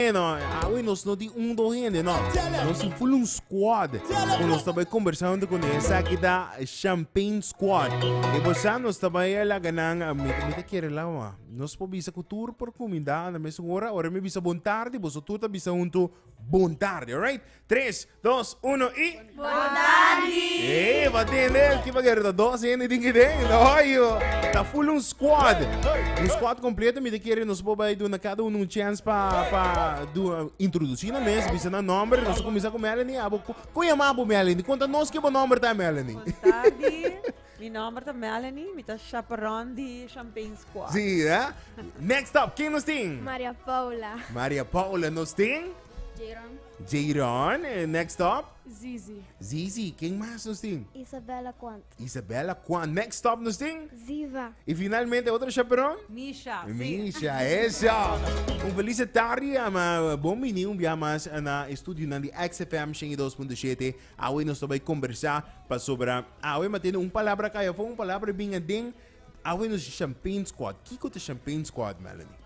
Hey no, awe nos no tin un do hende no. Nos tin full un squad. Ku nos ta bai kombersá huntu kuné. Esaki ta Champagne Squad. I bo sa nos ta bai a laga nan, mi mi ta kere lawa. Nos por bisa ku tur por kuminda na mesun ora. Ora mi bisa bon tardi, boso tur ta bisa huntu bon tardi, alright? Tres, dos, uno y... Votandi! Hey, eh, wat den del? Kipa gero ta dos hende din ki den? Oyo! Ta full un squad. Un squad completo mi te kere nos po bai duna cada uno un chance pa pa do introduci na mes, bisa na nomber, nos comienza cu Melanie. Abo con llama bo Melanie? Conta nos ki bo nomber ta Melanie. Votandi! Mi nomber ta Melanie, mi ta chaperon di Champagne Squad. Sí, eh? Next up, ken nos tin? Maria Paula. Maria Paula nos tin? Jayron. Jayron, eh, next up. Zizi. Zizi, ken mas nos tin? Isabella Kwant. Isabella Kwant. Next up nos tin? Ziva. Y finalmente, otro chaperon? Misha. Misha, eso. Un feliz tarde, ama. Bon bini un bia mas na estudio nan di XFM 102.7. Awe nos tabay conversa pa sobra. Awe ma tiene un palabra kaya fo, un palabra binga den. Awe nos champagne squad. Kiko te champagne squad, Melanie?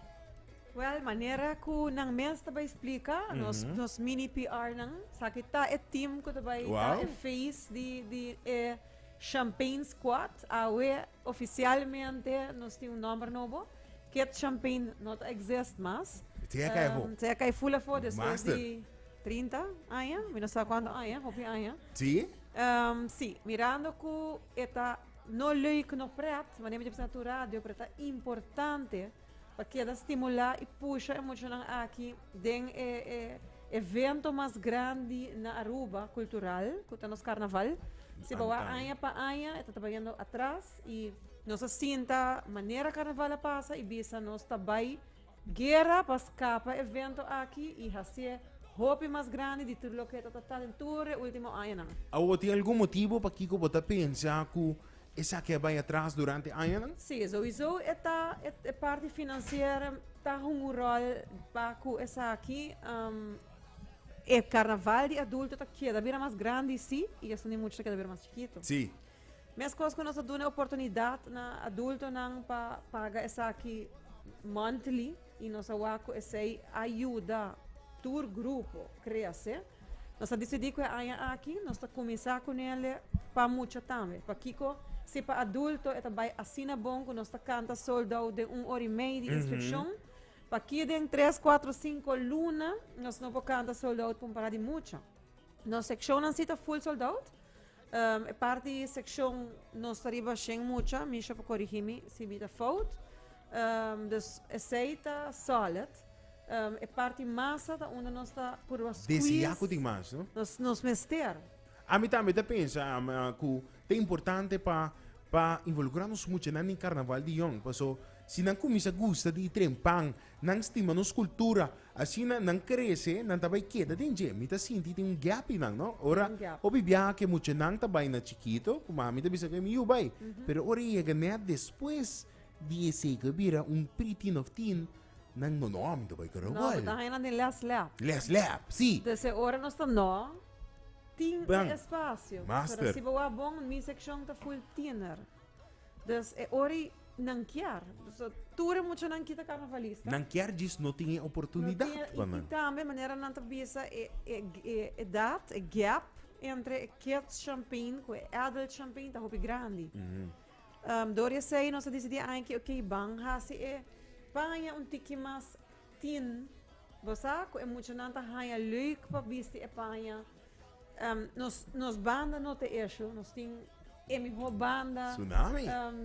Well, manera ku nan mes ta bai splika, nos nos mini PR-nan, esaki ta e team ku ta bai ta e feest di di e Champagne Squad. Awe ofisialmente nos tin un nòmber nobo, Kid Champagne no ta exist mas. Se a kai afó. Se a kai ful afó despues di trinta aña, mi no sa kuantu aña, hopi aña. Sí? Sí, mirando ku e ta no lei ku no pret, manera mi dj'e bisa na tur radio, pero ta importante. Pa keda stimulá i pusha e muchanan aki den e evento mas grandi na Aruba, kultural, ku ta nos karnaval. Si bo wak aña pa aña e ta trabaiando atras i nos a sinta manera karnaval a pasa i bisa nos ta bai guera pa skapa e evento aki i hasié hopi mas grandi di tur loke e ta tratá den tur e último añanan. Awo tin algun motibu pakiko bo ta pensa ku Esaki a bai atras durante añanan? Sí, souiso e ta, e, e parti financier ta hunga un rol pa cu esaki. Um, e carnaval di adulto ta keda bira mas grandi, sí, y esnan di mucho ta keda bira mas chiquito. Sí. Mescos cu nos ta duna oportunidad na adultonan pa paga esaki monthly y nos a wak cu esei a yuda tur grupo crece. Nos a disidí ku e aña aki nos ta kuminsá ku nele pa mucha tambe. Pakiko? Si pa adulto e ta bai asina bon ku nos ta kanta sold out den un ora i mei di instruccion, pakí den tres, kuatro, sinku luna nos no por kanta sold out pa un pará di mucha? Nos seccionnan si ta full sold out? E parti di e sekshon nos ta riba shen mucha, Misha por korigí mi si mi ta fout. Dus esei ta sòlid. E parti masa ta unda nos ta purba squeeze. Desi ya ku tin mas, no? Nos, nos mester. Ami tambe ta pensa am, ah, ku ta importante pa pa involukrá nos mucha nan e karnaval di Yòn. Paso si nan kuminsá gusta di e tren pan, Nan stima nos cultura, asina nan crece, nan ta bay keda den dje. Mi ta sinti tin un gap y nan, no? Ora, hopi biaha ke muchanan ta bay na chikito, cu mami ta bisa cu e mi yu bay. Pero ora e yega net despues di esey cu e bira un pre-teen of teen, nan, no, no, mi ta bay No, mi Carnaval. ta haya nan den les lab. Les lab, si. Des e ora nos ta no, tin e Bang. espacio. Master. Pero si bo wak bon, mi seccion ta full tiener. Dus e ora nan kier. So tur e muchanan kita karnavalista. Nan kier djis no tin e oportunidat no tin, pa nan. I tambe manera nan ta bisa e, e, e edat, e gap entre e kids champagne ku e adult champagne ta hopi grandi. Mm -hmm. um, Doria sei, nos a disidi aña ki, ok, ban hasi e paña un tiki mas Tin. Bo sa cu e muchanan ta haya leuk pa bisti e paña. Nos nos banda no ta esho. Nos tin e mihor banda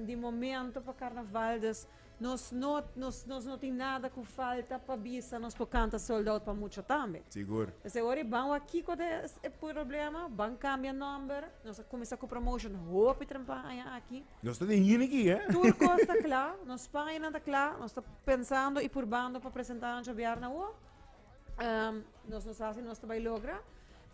di momento pa carnaval. Dus nos no nos nos no tin nada cu falta pa bisa. Nos por canta sold out pa mucha tambe. Sigur. P'esei ora e ban wak kico ta e problema, ban cambia nomber. Nos a cuminsa cu promotion hopi trempaña aki. Nos ta den hini ki eh. Tur kos ta kla, nos paña nan ta kla, nos ta pensando i purbando pa presentá nan djobiar na ua. nos no sa si nos ta bai logra,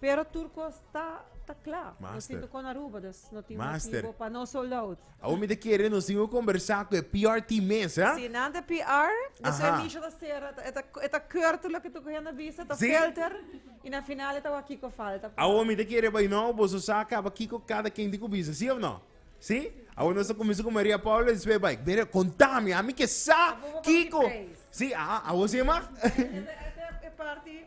pero tur kos ta ta kla. Master. Nos tin tokó na Aruba, dus no tin Master. motivo pa no sold out. Awo mi ta kere nos tin ku kombersá ku e PR team mes, eh. Si nan ta PR, dus Aha. e misha ta sera, e ta e ta kurto loke tur ku hende a bisa, ta Sí. filter, i na final e ta wak kiko falta pa. Awo mi ta kere bai nou, boso sa kaba kiko kada kende ku bisa, si of no? Sí, awor nos ta cuminsa cu Maria Paula y despues bai. Bere, contami, ami ke sa kico. Sí, aha, awor sí, ma. E parti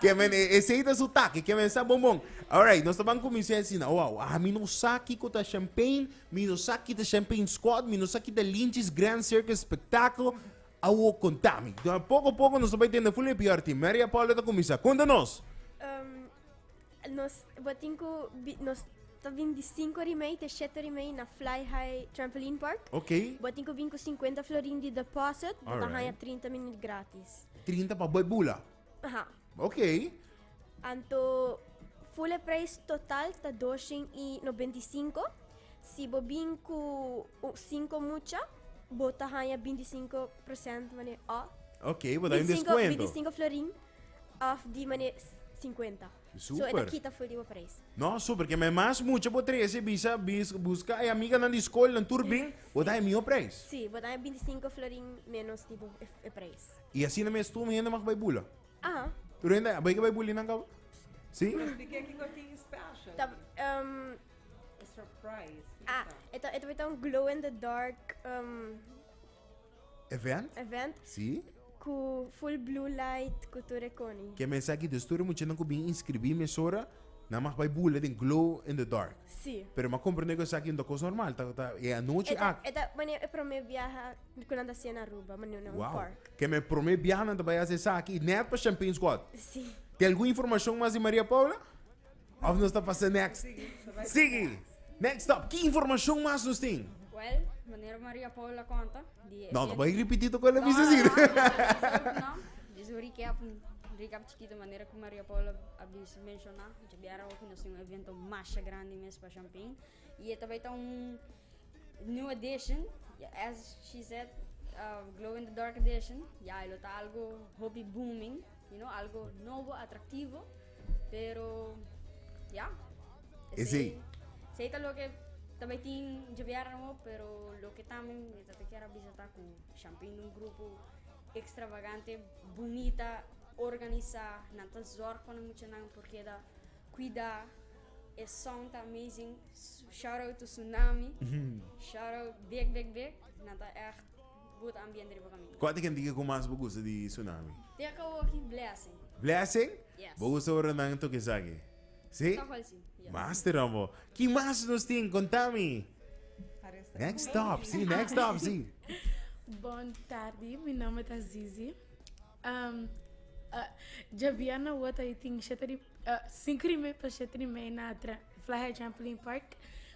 Kemen, esey ta su taki, kemen sa bon bon. Alright, nos ta ban cuminsa asina, wow, ami no sa kico ta champagne, mi no sa ki ta champagne squad, mi no sa ki ta Lynch's Grand Circus Spectacle, awor contami. Poco poco nos ta bai tende full e pior tin. Maria Paula ta cuminsa, cunta nos. Nos bo tin ku nos ta bin di sinku rimei te shete rimei na Fly High Trampoline Park. Ok. Bo tin ku bin ku sinkuenta florin di deposit, bo ta Alright. haña trinta minut gratis. Trinta pa bo e bula. Aha. Ok. Anto full e preis total ta doshen i nobenta i sinku. Si bo bin ku u- sinku mucha, bo ta haña binti sinku prosènt, mane, òf, Ok, bo ta haña un binti sinku, binti deskuento. sinku florin. Of di mane sinkuenta. So e ta kita for di bo preis. No, super, ke me mas mucha bo trese bisa bis buska e amiganan di skolnan tur bin, bo da e mihó preis. Si, bo da e bintisinko florin ménos di bo e preis. I asina mes tur hende mag bai bula? Aha. Tur hende a bai ke bai buli nan kaba? Si? Pero di ke kiko tin special Ta, aki? em, E surprise, ah, kiko? e ta e ta un glow in the dark, em. event ku full blue light ku tur e koni. Ke mens aki dus tur e muchanan ku bin inskribí mesora nan mas bai bula den glow in the dark. Pero m'a komprendé ku esaki un kos normal ta e anochi ak. E ta mane e promé biaha ku nan ta hasié na Aruba mane na un park. Ke mane e promé biaha nan ta bai hasi esaki nèt pa Champaine's Quad. Tin algun informashon mas di Maria Paula? Of nos ta pasa next? Sigui! Next stop, ki informashon mas nos tin? Well, manera Maria Paula konta di e. No, no bai ripití tok ku el a bisa si. No, jis un recap, un recap chikito manera ku Maria Paula a bisa, menshoná, djabiera hopi nos tin un evento masha grandi mes pa Shanping. Y e ta bay ta un new addition, as she said, glow in the dark addition, ya e lo ta algo hopi booming, you know, algo nobo, atractivo, pero ya, Esey. esey ta loke ta bay tin dje bièrnè hopi, pero loke tambe mi ta ta kier a bisa ta cu Champign ta un grupo extravagante, bunita, organisa, nan ta zorg pa nan muchanan por keda. Cuida e song ta amazing shout out to tsunami shout out big big big nan ta echt good ambiente riba caminda. Cua ta gentike cu mas bo gusta di tsunami? Te a cabo aki blessing. Blessing? Yes. Bo gusta ora nan toca esaki? Si? Toch wel si, yes. Master dan bo. Kin mas nos tin? Contami. Next stop, si, next stop, si. Bon tardi, mi nomber ta Zizi. Djabia na wota i tin shete di sinku di mei pa shete di mei na Fly-High Trampoline Park.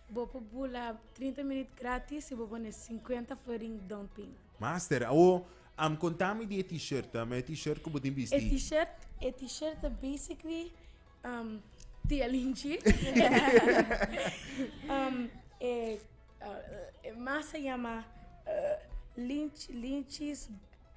Bo por bula trinta minüt grátis i bo pone sinkuenta florin down payment. Master, awo am kontá mi di e T-shirt ta, ma e T-shirt ku bo tin bisti. E T-shirt, e T-shirt ta basically tia Linchi e mas a yama Linchi, Linchi's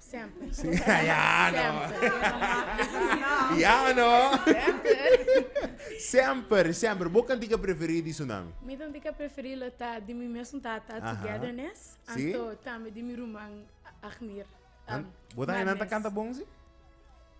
Semper. Ya o no? Semper, semper. Bo kantika preferí di su nami? Mi kantika preferí lo ta di mi mesmo tata, Aha. Togetherness, Sí. anto tambe di mi ruman, Agmir. An- um, Bo ta nan ta Madness. kanta bon si?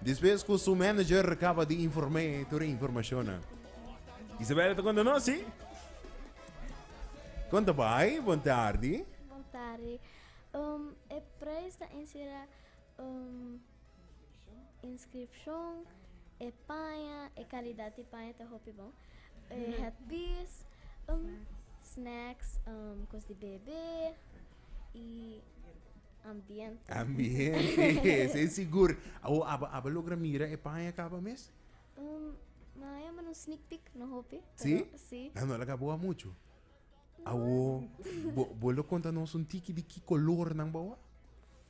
Despues cu su manager recaba di inform'é tur e informacionnan. Isabella ta conta nos, si? Conta bai, bon tardi. Bon tardi. Um, e prijs ta encierra um, inscripcion, e paña, e calidad di paña ta hopi bon, e headpiece, um, snacks, um, cos di bebe. y ambiente. Ambiente, sí, seguro. O aba, aba logra mira e paña acaba mes? Um, ma ya un sneak peek, no hopi. Sí? Sí. Ah, no la acabó mucho. Awo, bo, bo lo conta nos un tiki di ki color nan bawa?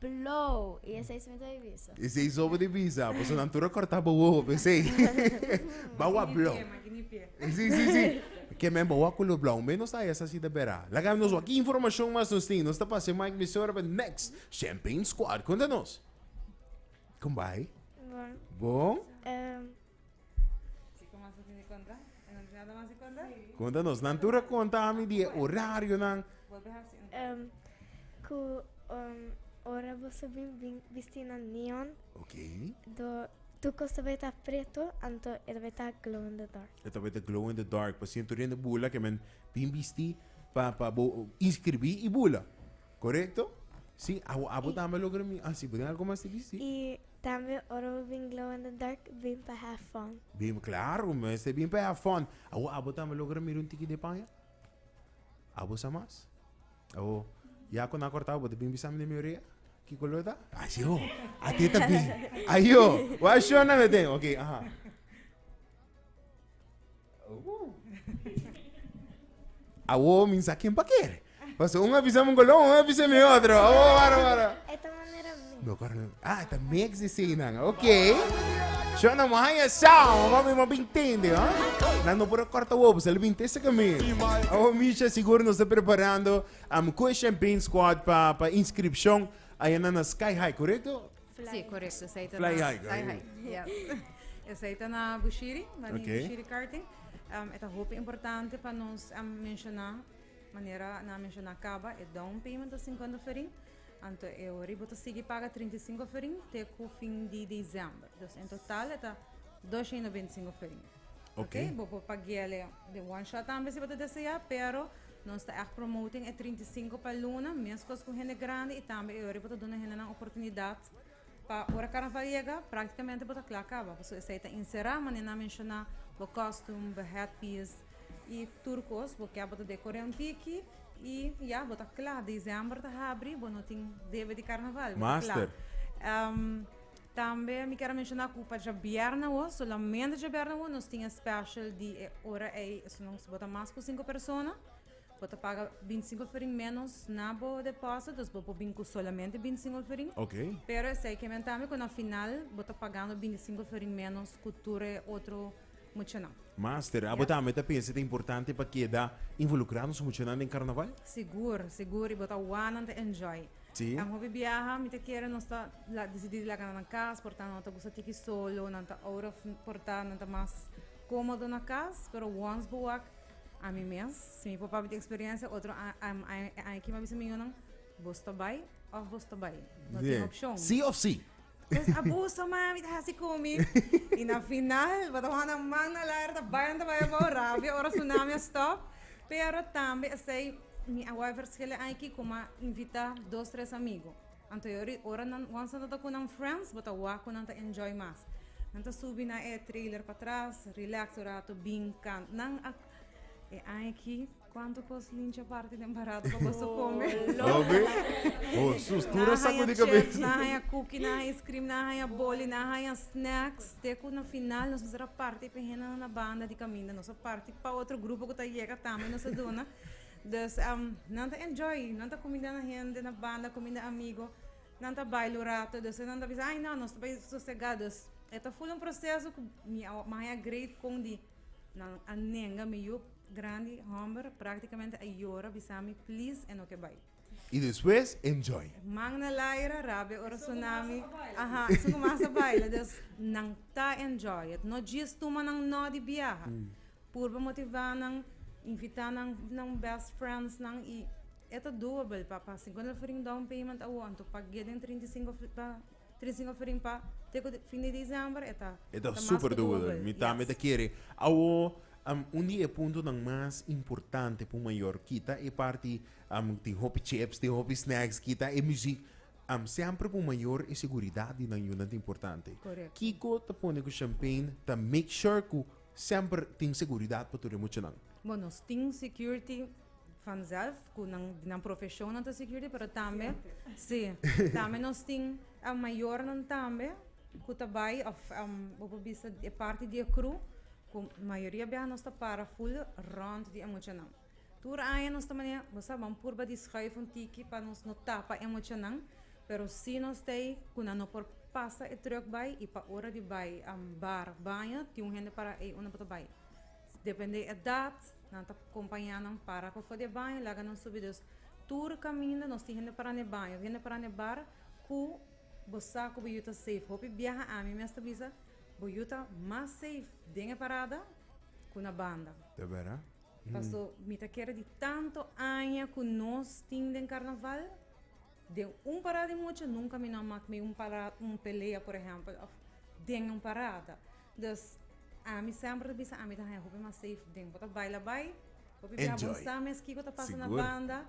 Blow! I e seis mesa di bisa. E seis obo di bisa. Pasobra nan tur a corta bo wowo pe sei. Ba wa blow. Si, si, si. Ke men ba wa cu lo blow. Un bay nos ta esa si ta bera. Laga nos wa ki informacion mas nos tin. Nos ta pasa e mic mi señora pa next Champagne Squad. Conta nos. Con bay? Bon. Bon? Konta nos, nan tur a konta ami di e orarionan. Em, ku em, ora boso bin bin bisti na neon, Ok. do tur kos ta bai ta preto, anto e ta bai ta glow in the dark. E ta bai ta glow in the dark. Pasobra tur hende bula ke men bin bisti pa pa bo inskribí i bula. Korekto? Si, abo abo tambe lo grami. Ah, si, bo tin algu mas te bisti? I Tambe ora bo bin glow in the dark bin pa have fun. Bin claro mester bin pa have fun. Awo abo tambe lo gra mira un tiki de paña? Abo sa mas? Awo ya cu nan a corta bo ta bin bisami den mi orea? Ki color ta? Ayo! Ate ta bin! Ayo! Wa shona me den? Ok, aha. Awo mi sa ken pa kere. Paso un a bisa mi un kolon, un a bisa mi otro. Awo, wara, wara. Eta manera mi. No, coronel. Ah, eta mix di sinan. Ok. Yo no mo haya sao, mami mo bin tende, ha? Na no por corta wobo, se bin tese que mi. Awo Misha seguro nos está preparando um Question Bean Squad pa pa inscripción. Allá na Sky High, correcto? Sí, correcto. Esai ta na... Fly high. Fly high, yeah. Esai ta na Bushiri, Mani okay. Bushiri Karting. Um, eta hopi importante pa nos um, menciona, manera na menciona caba, e down payment ta 50 ferin. Anto e oribo ta sigi paga 35 ferin te ku fin di dezember. Dus en total eta 225 ferin. Ok, bo por paguea le de one shot tambe si bo ta desea, pero nos ta echt promoting e 35 pa luna, mescos cu hende grande y tambe e ori bo ta duna hendenan oportunidad pa ora carnaval yega practicamente bo ta cla caba pasobra esey ta encera manera nan menciona bo costume, bo hat piece y tur cos bo kier bo ta decore un tiki y ya bo ta cla, december ta habri bo no tin debe di carnaval bo ta cla. Master. Tambe mi ker a menshoná ku pa djabièrnè awo, solamente djabièrnè awo, nos tin e special di e ora ei, esun si bo ta mas ku sinku persona, bo ta paga binti sinku alferiin ménos na bo depósito, dus bo por bin ku solamente binti sinku alferiin. Ok. Pero esei ke men tambe ku na final bo ta pagando binti sinku alferiin ménos ku tur e otro muchanan. Master, abo Yes. tambe ta pensa ta importante pa keda involukrá nos muchanan den karnaval? Sigur, sigur, i bo ta wònan ta enjoy. Sí. Nan hopi biaha mit'e kere nos ta la decidí di laga na nan kas por ta no ta gusta tiki solo, nan ta out of por ta nan ta mas komodo na kas, pero wans bo wak ami mes, si mi papa miti eksperensia otro a a aña aki mi a bisa mi yunan boso ta bai of boso ta bai no tin opshon. Sí of sí. Pues abuso mami ta hasi cu mi. Y na final bo ta wak nan man na laer ta bay nan ta bay abao rabia ora sunami a stop. Pero tambe esey mi a wak verschillen ay ki cu m'a invita dos tres amigo. Anteriori ora nan wans nan ta cu nan friends bo ta wak cu nan ta enjoy mas. Nan ta subi na e trailer patras relax un rato bin can. Nan a e aña aki. Cuanto cos lincha parti den barato pa boso come. Obi? Oh, sus, tu na saco di cabeza. Na haya cookie, na haya ice cream, na haya boli, na haya snacks. Teco na final nos a parti pe hende na banda di caminda. Nos a parti pa otro grupo cu ta yega tambe nos a duna. Dus, um, nan ta enjoy. Nan ta cuminda na hende, na banda, cuminda amigo. Nan ta baila un rato. Dus nan ta bisa, ay no, nos ta bai sosega. Dus, e ta full un proceso cu mi a haya great con di. Nan a nenga mi yup grandi, homber, practicamente a yora bisami please e no ke bai. Y despues enjoy. Man na laira rabia ora tsunami aha esun ku mas a baila dus nan ta enjoy it no djis tuma nan no di biaha purba motiva nan invita nan nan best friends nan y e ta doable pa pa singunda for in down payment awo anto pag'e den trinta i sinku E ta super doable, mi tambe ta kere. Awo, un di e puntonan mas importante pa un mayor kita e parti, tin hopi chips, tin hopi snacks, kita e muziek. Semper pa un mayor e seguridat di nan yunan ta importante. Kiko ta pone ku Champagne ta make sure ku semper tin seguridat pa tur e muchanan? Vanzelf cu nan di nan profesionnan ta security pero tambe si tambe nos tin e mayornan tambe cu ta bay of bo por bisa e parti di e crew cu mayoria biaha nos ta para full rond di e muchanan tur aña nos ta manera bo sa ban purba di schuif un tiki pa nos no tapa e muchanan pero si nos stay cu nan no por pasa e truck bay y pa ora di bay bar baño tin un hende para ey un nan bo ta bay Depende edat, nan ta kompañá nan para pa for di e baño i laga nan subi. Dus tur kaminda nos tin hende pará na e baño. Hende pará na e bar ku bo sa ku bo yu ta safe. Hopi biaha ami mes ta bisa bo yu ta mas safe den e parada ku na banda. Ta bera? Paso mi ta kere di tantu aña ku nos tin den karnaval. Den un parada di mucha nunka mi no a mak mi un para un pelea por ehempel of den un parada dus ami semper ta bisa ami ta haña hopi mas safe den bo ta bai la bai hopi bia bo Enjoy. sa mes kiko ta pasa na Sigur. banda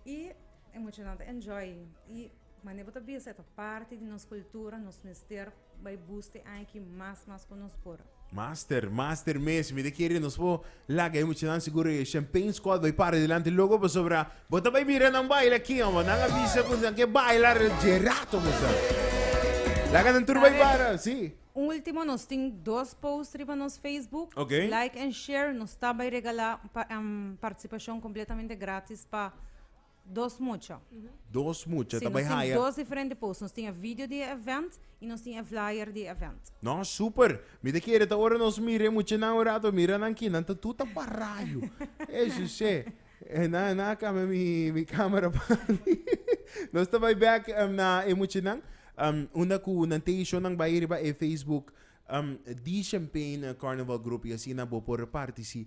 i e muchanan ta enjoy i mane bo ta bisa e ta parti di nos kultura nos mester Bai bus te aña ki mas mas ku nos por. Master, master mes, mi ta kere nos por laga e muchanan sigur e champagne squad bai para dilanti loco pasobra bo ta bai mira nan baila aki amo, nan a bisa cu nan ke baila dje rato mester. Laga nan tur bai para, si. Ultimo nos tin dos post riba nos Facebook, okay. like and share, nos ta bai regala pa, um, participacion completamente gratis pa Dos mucha. Dos mucha ta bai haya. Dos diferente posts. Nos tin e video di e event y nos tin e flyer di e event. No, super. Mi ta kere ta ora nos mira e muchanan un rato, mira nan ki nan ta tur ta parayo. Ey Jose, nan nan a cambia mi camera pandi. Nos ta bai back na e muchanan unda cu nan teji show nan bai riba e Facebook di Champagne Carnival Group y asina bo por partici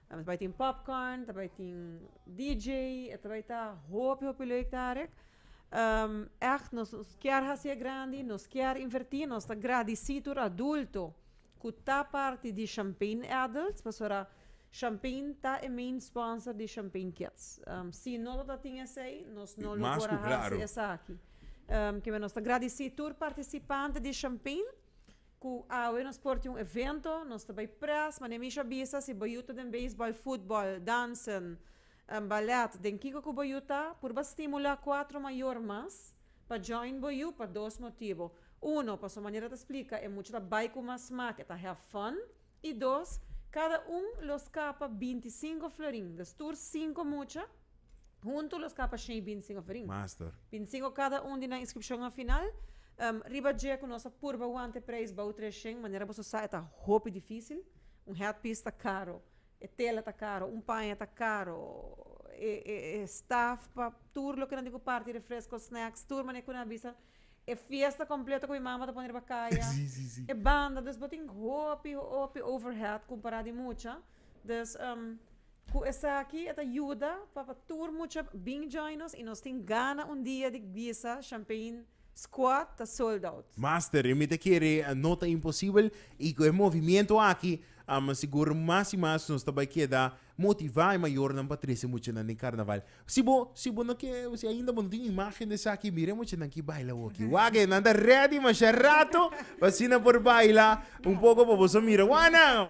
Ta bai tin popcorn, ta bai tin DJ, e ta bai ta hopi hopi leuk ta arik. Ègt nos kier hasié grandi, nos kier invertí, nos ta gradisí tur adulto ku ta parti di Champagne Adults, pasora Champagne ta e main sponsor di Champagne Kids. Si no lo ta tin esei, nos no lo por a hasi esaki. Kiba nos ta gradisí tur partisipante di Champagne. Cu awe nos por tin un evento, nos ta bay pres, ma den mishi a bisa si bayu ta den baseball, football, dansen, ballet, den kico cu bayu ta, purba stimula cuatro mayor mas pa join bayu pa dos motibo, uno, pasobra manera ta splica e mucha ta bay cu mas smaak, e ta have fun, y dos, cada un lo scapa binti cinco florin, dus tur cinco mucha, Huntu lo skapa shei bin singo ferin. Master. Bin singo kada un di nan inskripshonnan final. Riba dje ku nos a purba wante preis bou tres shen, manera boso sa e ta hopi difisil. Un headpiece ta karo, e tela ta karo, un paña ta karo, e e e staf pa tur loke nan tin ku parti, refresko, snacks, tur mane ku nan a bisa. E fiesta completo cu mi mama ta pone riba caya. Sí, sí, sí. E banda, dus bo tin hopi, hopi overhead compara di mucha. Dus, um, cu esaki e ta yuda pa, pa tur mucha bin join nos y nos tin gana un dia di bisa Champagne Squad ta sold out. Master, mi ta kere no ta imposible y cu e movimiento aki, um, sigur mas y mas nos ta bay keda Motivá e mayornan pa trese muchanan den karnaval. Si bo si bo no ke si ainda bo no tin imágen di esaki mira e muchanan ki baila awoki. Wak e nan ta rèdi mashá ratu pa asina nan por baila un poko pa boso mira. Wak nan!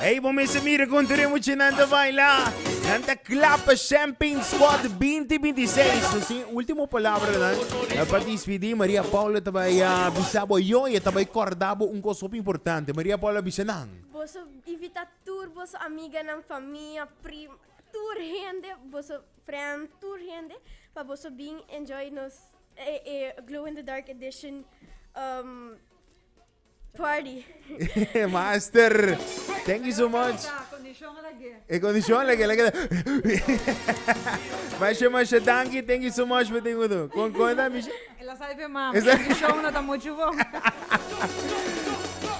Ey, bo mester mira con ture muchanan ta baila. Nan ta clap Champagne Squad 2026. Nos sin último palabra nan. Para despedir, Maria Paula ta bay a bisa bo yo y ta bay corda bo un cos hopi importante. Maria Paula bisa nan. Boso invita tur boso amiganan, famia, prim, tur hende, boso friend, tur hende pa boso bin enjoy nos e e Glow in the Dark Edition um Party. Master. Thank you so much. E kondishon lege lege. Masha masha danki. Thank you so much for thing udo. Kon kon da misha. Ela sai pe mam. Esa- Kondishon no ta mucho bon.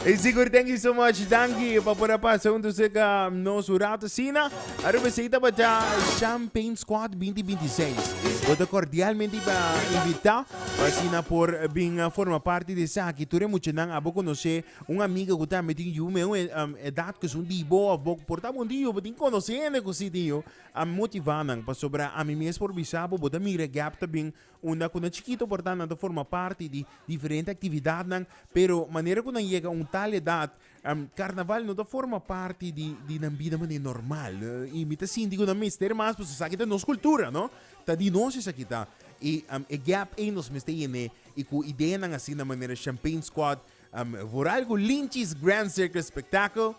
E sigur, thank you so much. Danki pa por a pasa un tussen ka nos un rato sina. Aruba sei tabata Champagne Squad 2026. Bota cordialmente pa invita. Asina por bin forma parti di esaki. Tur e muchanan a bo conoce un amiga cu tambe tin yu meu edad cu esun di bo of bo por ta bon tin yu. Bo tin conoce hende cu si tin yu. A motiva nan pasobra ami mes por bisa bo bo ta mira gap ta bin unda cu nan chikito por ta nan ta forma parti di diferente actividadnan pero manera cu nan yega un tal edad Karnaval no ta forma parti di nan bida manera normal i mi ta sinti ku nan mester mas pasobra esaki ta nos kultura no ta di nos esaki ta i e gèp ei nos mester yen'é i ku ideanan asi na manera Champagne Squad for algu Lynchies Grand Circle Spectacle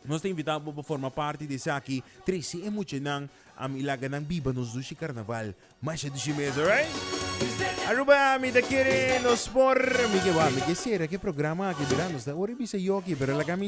nos ta invitá bo pa forma parti di esaki trese e muchanan i laga nan biba nos dushi Karnaval Masha di shi mes, alright? Aruba, mi ta kere nos por, mi ke, wa, mi ke sera ke programa aki, mira, nos ta ora bisa yo aki, pero laga mi